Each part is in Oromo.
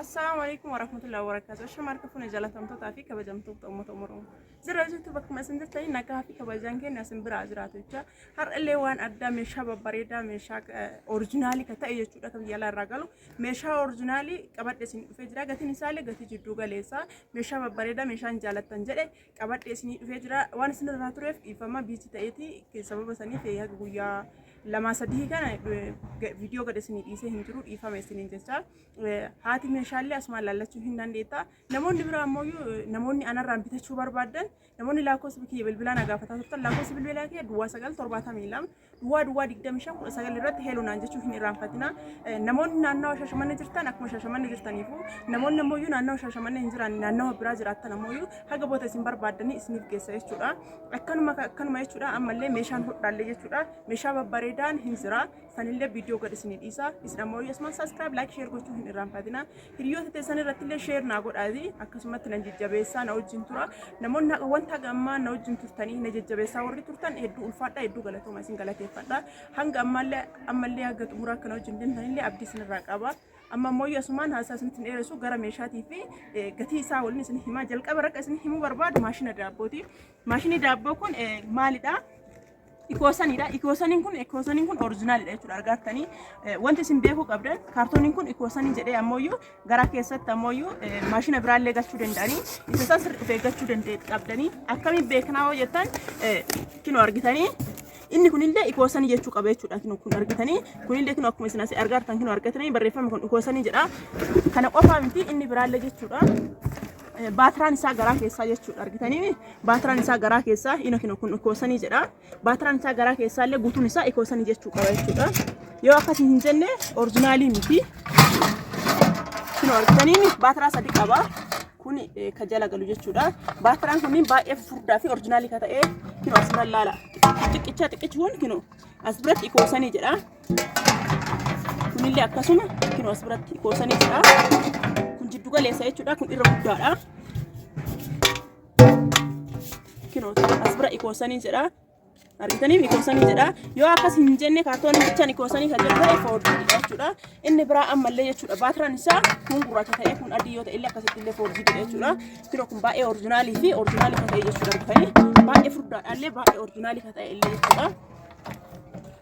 Assalamu alaikum warahmatullahi wabarakatuh. Shama harka fuune jalatamtootaa fi kabajamtoota uummata Oromoo. Zira jirtu bakkuma isin jirtanii nagaa fi kabajaan keenya isin biraa jiraatu jecha har'allee waan addaa meeshaa babbareedaa meeshaa orijinaalii ka ta'e jechuudha kan biyya alaa irraa galu meeshaa orijinaalii qabadhe isin dhufee jira gatiin isaallee gatii jidduu galeessaa meeshaa babbareedaa meeshaan jaalattan jedhe qabadhe isinii dhufee jira waan isin irraa tureef dhiifama biichi ta'eeti sababa saniif haga guyyaa lamaa sadii kana viidiyoo gad isinii dhiisee hin jiru dhiifama isiniin jecha haati meeshaalee asumaan laallachuu hin dandeetta namoonni biraa ammoo namoonni anarraan bitachuu barbaadan namoonni lakkoofsa kiyya bilbilaa na gaafataa turtan lakkoofsa bilbilaa kiyya duwwaa sagal torbaatamii lama Duwwaa duwwaa 25 19 irratti heeloo naan jechuu hin irraanfatina. Namoonni naannawa Shaashamannee jirtan akkuma Shaashamannee jirtaniifu namoonni ammoo iyyuu naannawa Shaashamannee hin jiraanne naannawa biraa jiraattan ammoo iyyuu haga booda isin barbaaddanii isiniif geessa jechuudha. Akkanuma akkanuma jechuudha ammallee meeshaan hodhaallee jechuudha meeshaa babbareedaan hin jira sanillee viidiyoo gad isinii dhiisa isin ammoo iyyuu asumaan saskiraayib laayik sheer gochuu hin irraanfatina. Hiriyoota teessan irratti illee sheer naa godhaati akkasumatti nan jajjabeessaa na wajjin tura namoonni haqa wanta haga ammaa na wajjin turtanii na jajjabeessaa warri turtan hedduu ulfaadha hedduu galatooma isin galateeffadha hanga ammaallee ammallee haga xumuraa kana wajjin deemtan illee abdii isin irraa qaba amma immoo yoo asumaan haasaa isinitti hin dheeressu gara meeshaatii fi eh, gatii isaa waliin isin himaa jalqaba rakka isin himuu barbaadu maashina daabbooti maashinii daabboo kun eh, maalidha Ikoosanidha. Ikoosaniin kun ikoosaniin kun orijinaalidha jechuudha argaartanii wanti isin beekuu qabdan kaartooniin kun ikoosanii jedhee ammoo garaa keessatti ammoo maashina biraallee galchuu danda'anii isa san sirri dhufee galchuu danda'e qabdanii akkamiin beeknaa hoo jettan kinoo argitanii inni kunillee ikoosanii jechuu qaba jechuudha kinoo kun argitanii kunillee kinoo akkuma isin asii argaartan kinoo argatanii barreeffamni kun ikoosanii jedha kana qofaa miti inni biraallee jechuudha. baatiraan isaa garaa keessaa jechuudha argitanii Baatiraan isaa garaa keessaa ina kino kun ikoosanii jedha. Baatiraan isaa garaa keessaa illee guutuun isaa ikoosanii jechuu qaba jechuudha. Yoo akkasii hin jenne orijinaalii miti. Kino argitaniin baatiraa sadi qaba. Kun eh, ka jala galu jechuudha. Baatiraan kunniin baay'ee furdaa fi orijinaalii ka ta'e kino as bira laala. Xiqqichaa xiqqichi kun kino as biratti ikoosanii jedha. Kunillee akkasuma kino as biratti ikoosanii jedha. Kun jiddu galeessa jechuudha. Kun irra guddaadha. Kinoo as bira ikoosanii jedha. Argitaniif ikoosanii jedha. Yoo akkas hin jenne kaartoonii bichaan ikoosanii kan jedhu ta'e foorjiidha jechuudha. Inni biraa ammallee jechuudha. Baatiraan isaa kun gurraacha ta'ee kun adii yoo ta'e illee akkasitti illee foorjiidha jechuudha. Kinoo kun baay'ee orijinaalii fi orijinaalii kan ta'e jechuudha. Argitanii baay'ee furdaadha illee baay'ee orijinaalii kan ta'e illee jechuudha.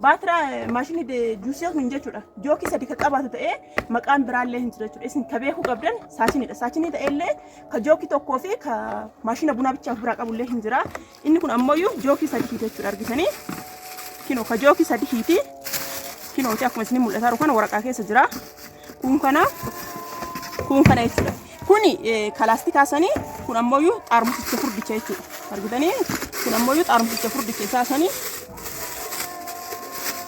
Baatiraa maashinii de- juusee kun jechuudha. Jookii sadi ka qabaatu ta'ee maqaan biraallee hin jiru jechuudha. Isin ka beekuu qabdan saachiniidha. Saachinii ta'ellee ka jookii tokkoo fi ka maashina bunaa bichaa of biraa qabullee hin jira. Inni kun ammoo jookii sadi hiite jechuudha argitanii. Kinoo ka jookii sadi hiiti. Kinooti akkuma isin mul'ataa jiru kana waraqaa keessa jira. Kun kana kun kana jechuudha. Kun kalaastikaa sanii kun ammoo xaarmusicha furdicha jechuudha. Argitanii kun ammoo xaarmusicha furdicha isaa sanii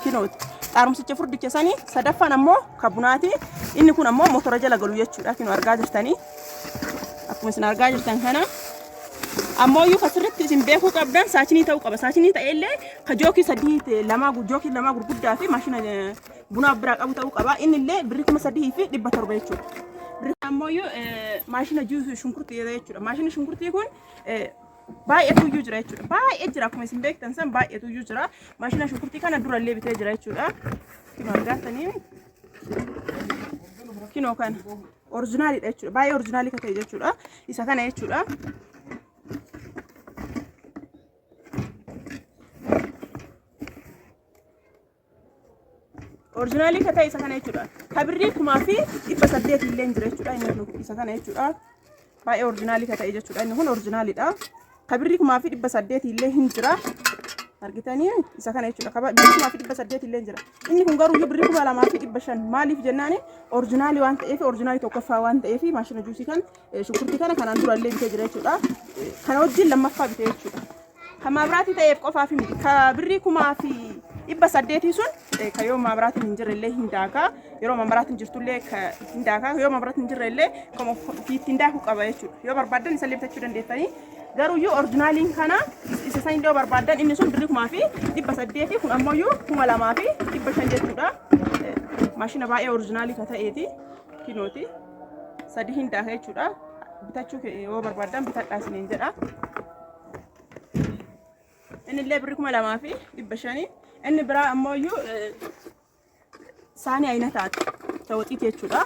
kinooti. Xaarmusicha furdicha sanii sadaffaan ammoo kabunaati. Inni kun ammoo motora jala galu jechuudha. Kinoo argaa jirtanii akkuma isin argaa jirtan kana. ammoo iyyuu asirratti isin beekuu qabdan saachinii ta'uu qaba. Saachinii ta'ellee ka jookii sadii lamaa jookii lamaa gurguddaa fi maashina buna of biraa qabu ta'uu qaba. Inni illee birri kuma sadii fi dhibba torba jechuudha. Birri ammoo maashina juusuu shunkurtii jechuudha. Maashina shunkurtii kun baay'eetu iyyuu jira jechuudha. Baay'ee jira akkuma isin beektan san baay'eetu iyyuu jira. Maashina shunkurtii kana dura illee bitee jira jechuudha. Kino argaatanii kino kana orjinaaliidha jechuudha. Baay'ee orjinaalii kan ta'e jechuudha. Isa kana jechuudha. Orijinaalii ka ta'e isa kana jechuudha. Ka birrii kumaa fi dhibba saddeet illee hin jira jechuudha. Inni kun isa kana jechuudha. Baay'ee orijinaalii ka ta'e jechuudha. Inni kun orijinaaliidha. Ka birrii kumaa fi dhibba saddeet illee hin jira. Argitanii isa kana jechuudha. Ka birrii kumaa fi dhibba saddeet illee hin jira. Inni kun garuu birrii kuma lamaa fi dhibba shan maaliif jennaani orijinaalii waan ta'eef orijinaalii tokkoffaa waan ta'eef maashina juusii kan shunkurtii kana kanaan dura illee bitee jira jechuudha. Kana wajjin lammaffaa bitee jechuudha. Kan maabiraatii ta'eef qofaaf miti. Ka birrii kumaa fi dhibba saddeetii sun eh, ka yoo maabiraatiin hin jirre illee hin daakaa. Yeroo maabiraatiin jirtu illee ka hin daakaa. Yoo maabiraatiin hin jirre illee kan of- ofii ittiin daakuu qaba jechuudha. Yoo barbaaddan isa illee bitachuu dandeettanii. Garuu iyyuu orjinaaliin kana is- isa san yoo barbaaddan inni sun birrii kumaa fi dhibba saddeetii kun ammoo iyyuu kuma lamaa fi dhibba shan jechuudha. Eh, Maashina baay'ee orjinaalii ka ta'eeti. Kinooti. Sadii hin daaka jechuudha. Bitachuu ke- yoo barbaaddan bitadhaa isiniin jedha. Inni illee birri kuma lamaa fi dhibba shanii. Inni biraa ammoo iyyuu saanii ayina taate. Tawaxiiti jechuudha.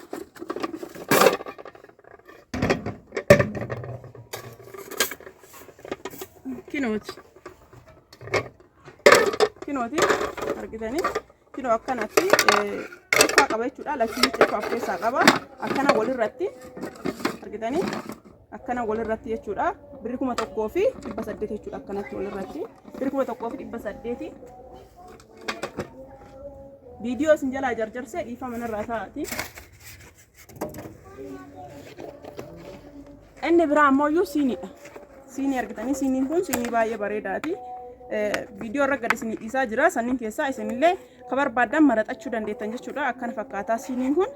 Kinooti. Kinooti argitanii. Kino akkanatti cufaa qaba jechuudha. Lachuun cufaa of keessaa qaba. Akkana walirratti argitanii akkana walirratti jechuudha. Birri kuma tokkoo fi dhibba saddeet jechuudha akkanatti walirratti. Birri kuma tokkoo fi dhibba saddeeti. Viidiyoo isin jalaa jarjarsee dhiifama narraa taa'ati. Inni biraa ammoo iyyuu siiniidha. Siinii argitanii siiniin kun siinii baay'ee bareedaati. Viidiyoo irra gad isinii dhiisaa jira. Sanniin keessaa isinillee ka barbaadan maraxachuu dandeettan jechuudha. Akkana fakkaataa siiniin kun.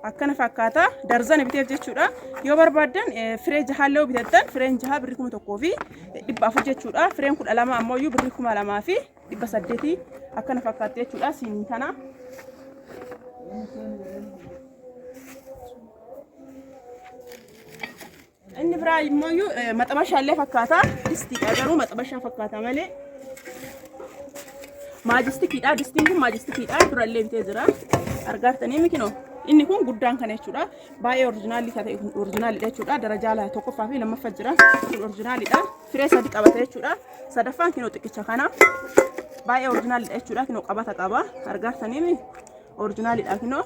Akkana fakkaataa darzana biteef jechuudha. Yoo barbaadan firee jahaallee yoo bitattan fireen jahaa birrii kuma tokkoo fi dhibba afur jechuudha. Fireen kudha lama ammoo iyyuu birrii kuma lamaa fi dhibba saddeetii akkana fakkaatti jechuudha siinii tana. Inni biraa immoo iyyuu eh, maxabashaa illee fakkaata distiidha garuu maxabashaa fakkaata malee maajistikiidha distiin kun maajistikiidha durallee bitee jira argaartanii mikinoo inni kun guddaan kana jechuudha baay'ee orjinaalii ta'e orjinaalidha jechuudha darajaa tokkoffaa fi lammaffaa jira kun orjinaalidha. Firee sadi qabata jechuudha. Sadaffaan kinoo xiqqicha kana baay'ee orjinaaliidha jechuudha. Kinoo qabata qaba. Argaartaniimi orjinaaliidha kinoo.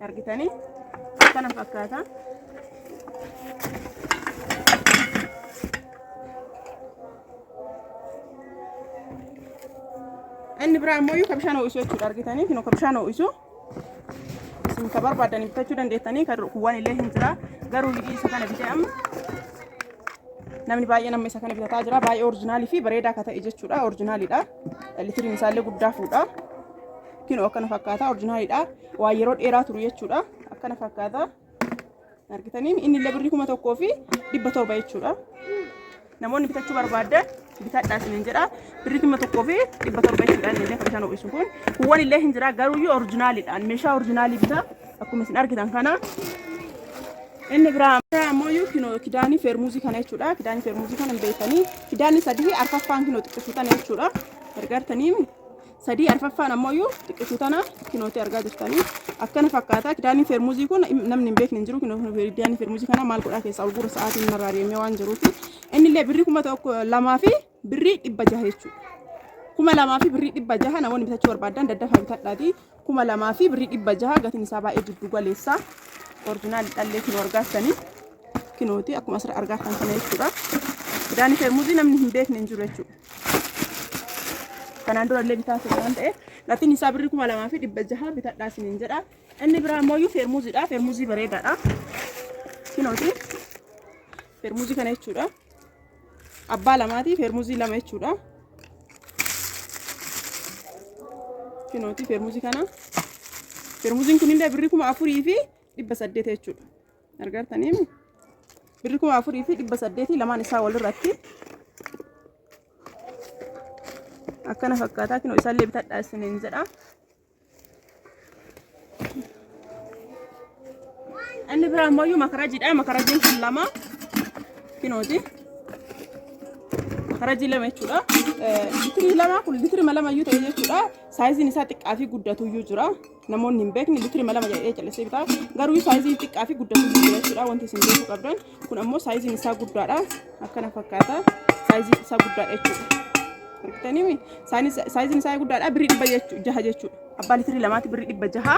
Argitanii akkana fakkaata. Inni biraa ammoo ka bishaan ho'isu jechuudha. Argitanii kinoo ka bishaan ho'isu. isin ka barbaaddan bitachuu dandeettanii kan kuwwan illee hin jira garuu liqii isa kana bitee amma namni baay'een amma isa kana bitataa jira baay'ee orjinaalii fi bareedaa akka ta'e jechuudha orjinaaliidha litiriin isaallee guddaa fuudha kinoo akkana fakkaata orjinaaliidha waa yeroo dheeraa turu jechuudha akkana fakkaata argitanii inni illee birrii kuma tokkoo fi dhibba torba jechuudha namoonni bitachuu barbaaddan bitadhaa isinin jedha birrii kuma tokkoo fi dhibba torba jechuudha inni illee kan isaan ho'isu kun kuwwan illee hin jira garuu iyyuu orjinaaliidhaan meeshaa orjinaalii bitaa akkuma isin argitan kana inni biraa biraa ammoo iyyuu kino kidaanii feermuuzii kana jechuudha kidaanii feermuuzii kana hin beektanii kidaanii sadii arfaffaan kino xiqqeessitan jechuudha gargaartanii sadii arfaffaan ammoo xiqqishu tana kinooti argaa jirtanii akkana fakkaata kidaanii fermuzii kun namni hin beekne hin jiru kidaanii fermuzii kana maal godhaa keessaa ol guura sa'aatiin narraa deemee waan jiruuf inni illee birrii kuma tokko lamaa fi birrii dhibba jaha jechuudha. kuma lamaa fi birrii dhibba jaha namoonni bitachuu barbaadan daddafa bitadhaati kuma lamaa fi birrii dhibba jaha gatiin isaa baay'ee jiddu galeessa orjinaal dhallee kinoo argaatanii kinooti akkuma asirra argaatan kana jechuudha. Kidaanii fermuzii namni hin beekne hin jiru jechuudha. kanaan dura illee bitaa ture waan ta'eef gatiin isaa birri kuma lamaa fi dhibba jaha bitadhaa isiniin jedha inni biraa ammoo iyyuu feermuuziidha feermuuzii bareedaadha kinooti feermuuzii kana jechuudha abbaa lamaati feermuuzii lama jechuudha kinooti feermuuzii kana feermuuziin kunillee birri kuma afurii fi dhibba saddeet jechuudha argartaniim birri kuma afurii fi dhibba saddeetii lamaan isaa walirratti akkana fakkaataa kinoo isaallee bitadhaa isiniin jedha inni biraa immoo iyyuu makarajiidha makarajiin kun lama kinooti makarajii lama jechuudha litirii lama kun litirima lama iyyuu ta'e jechuudha saayiziin isaa xiqqaa fi guddatu iyyuu jira namoonni hin beekne litirima lama jedhee callisee bitaa garuu saayiziin xiqqaa fi guddaa fi guddaa jechuudha wanti isin beekuu qabdan kun ammoo saayiziin isaa guddaadha akkana fakkaata saayiziin isaa guddaadha jechuudha argitanii saayiziin isaa guddaadha birrii dhibba jechu- jaha jechuudha abbaa litirii lamaatti birrii dhibba jaha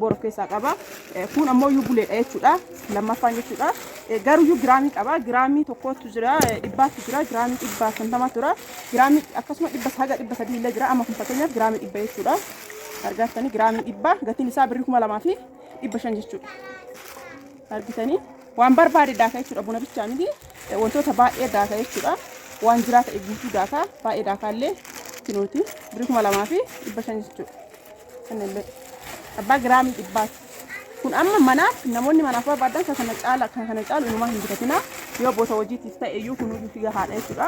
bor of keessaa qaba. Eh, Kun ammoo iyyuu buleedha jechuudha. Lammaffaan jechuudha. Eh, Garuu iyyuu giraamii qaba. Giraamii tokkotu jira. eh, Dhibbaatu jira. Giraamii dhibba shantamaa jira. Giraamii akkasuma dhibba haga dhibba sadii illee jira. Amma kun fakkeenyaaf giraamii dhibba jechuudha. Argaatanii giraamii dhibba gatiin isaa birrii kuma lamaa fi dhibba shan jechuudha. argitanii waan barbaade daaka jechuudha buna bichaa miti Eh, wantoota baay'ee daaka jechuudha waan jiraa ta'e guutuu daaka baay'ee daakaallee kinuuti birrii kuma lamaa fi dhibba shan jechuudha Kanallee abbaa giraamii dhibbaati. Kun amma manaaf namoonni manaaf barbaadan kan kana caala kan kana caalu inumaa hin bitatina yoo boota hojiitiif ta'e iyyuu kun hundi figa haadha jechuudha.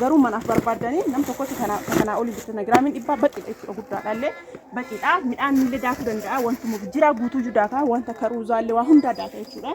Garuu manaaf barbaadanii nam tokkotti kana kan kanaa olii bitatana giraamiin dhibbaa baqiidha jechuudha guddaadha illee baqiidha midhaan illee daakuu danda'a wantuma jiraa guutuu iyyuu daakaa wanta karuuzaa illee waa hundaa daaka jechuudha.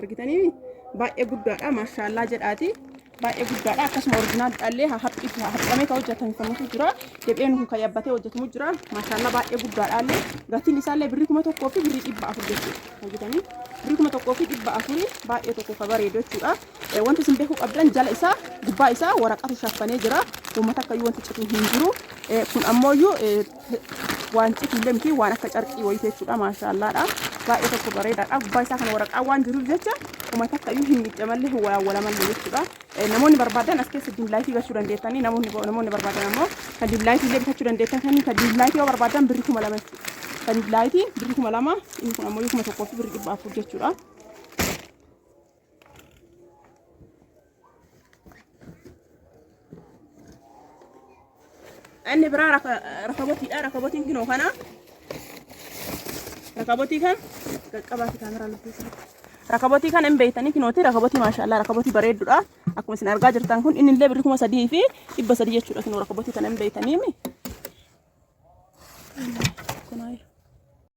argitanii baay'ee guddaadha maashaallaa jedhaati baay'ee guddaadha akkasuma originaal dhallee haphiitu haphamee ka hojjetamu kamutu jira deebi'een kun kan yabbatee hojjetamu jira maashaallaa baay'ee guddaadha illee gatiin isaallee birrii kuma tokkoo fi birrii dhibba afur jechuudha argitanii birrii kuma tokkoo fi dhibba afurii baay'ee tokko ka bareedu jechuudha Eh, wanti isin beekuu qabdan jala isaa gubbaa isaa waraqatu shaffanee jira uummata akkayyuu wanti cituu hin jiru Eh, kun ammoo iyyuu waan citillee miti waan akka carqii wayii jechuudha maashaallaadha baay'ee tokko bareedaadha gubbaa isaa kana waraqaa waan jiruuf jecha kuma takka iyyuu hin miidhamallee hin walaawwalamallee jechuudha namoonni barbaadan as keessa diimlaayitii gachuu dandeettanii namoonni namoonni barbaadan ammoo kan diimlaayitii illee bitachuu dandeettan kan kan diimlaayitii yoo barbaadan birri kuma lama jechuudha kan diimlaayitii birri kuma lama inni kun ammoo kuma tokkoo fi birri dhibba afur jechuudha. Inni biraa rakabotiidha. Rakabotiin kinoo kana. Rakabotii kan qaqqabaati kaameraa lukkeessa. Rakabotii kan hin beektanii kinooti. Rakabotii maashaallah rakabotii bareedduudha. Akkuma isin argaa jirtan kun inni illee birri kuma sadii fi dhibba sadii jechuudha kinoo rakabotii kan hin beektanii.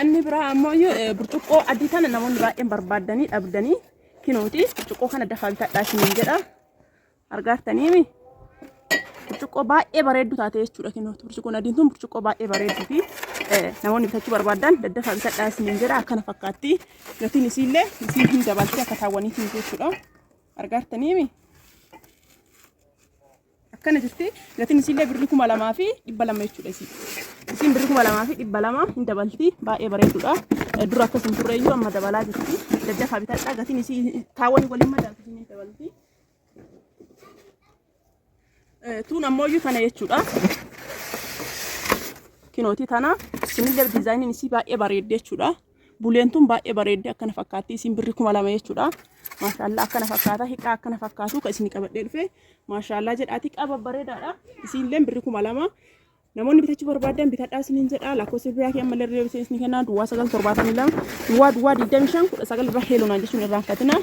Anni biraa ammoo iyyuu eh, burcuqqoo adii tana namoonni baay'een barbaaddanii dhabdanii kinooti burcuqqoo kana dafaa bitadhaa isiniin jedha argaartaniimi burcuqqoo baay'ee bareeddu taate jechuudha kinooti burcuqqoon adiin tun burcuqqoo baay'ee bareedduu fi eh, namoonni bitachuu barbaadan daddafaa bitadhaa isiniin jedha akkana fakkaatti gatiin isiillee isiin hin dabaltee akka taawwaniitiin jechuudha argaartaniimi akkana jirti gatiin isiillee birri kuma lamaa fi dhibba lama jechuudha isii isiin birri kuma lamaa fi dhibba lama hin dabalti baay'ee bareedudha dura akkas hin turre iyyuu amma dabalaa jirti daddafaa bitadha gatiin isii taawwan waliin madaalti hin dabalti tuun ammoo iyyuu tana jechuudha kinooti tana isinillee diizaayiniin isii baay'ee bareedde jechuudha Buleen tun baay'ee bareeddi akkana fakkaatti. Isin birri kuma lama jechuudha. Maashaallaa akkana fakkaata. Hiqaa akkana fakkaatu kan isin qabadhee dhufe. Maashaallaa jedhaati qaba bareedaadha. Isinillee birri kuma lama. Namoonni bitachuu barbaadan bitadhaa isiniin jedha. Lakkoofsa biraa kee ammallee irra isin kennaa duwwaa sagal torbaatamii lama duwwaa duwwaa digdamii shan kudha sagal irra heelonaa jechuun irraanfatina.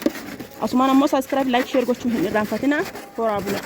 Asumaan ammoo saskiraayib laayik sheer gochuun hin irraanfatina. Horaa bulaa.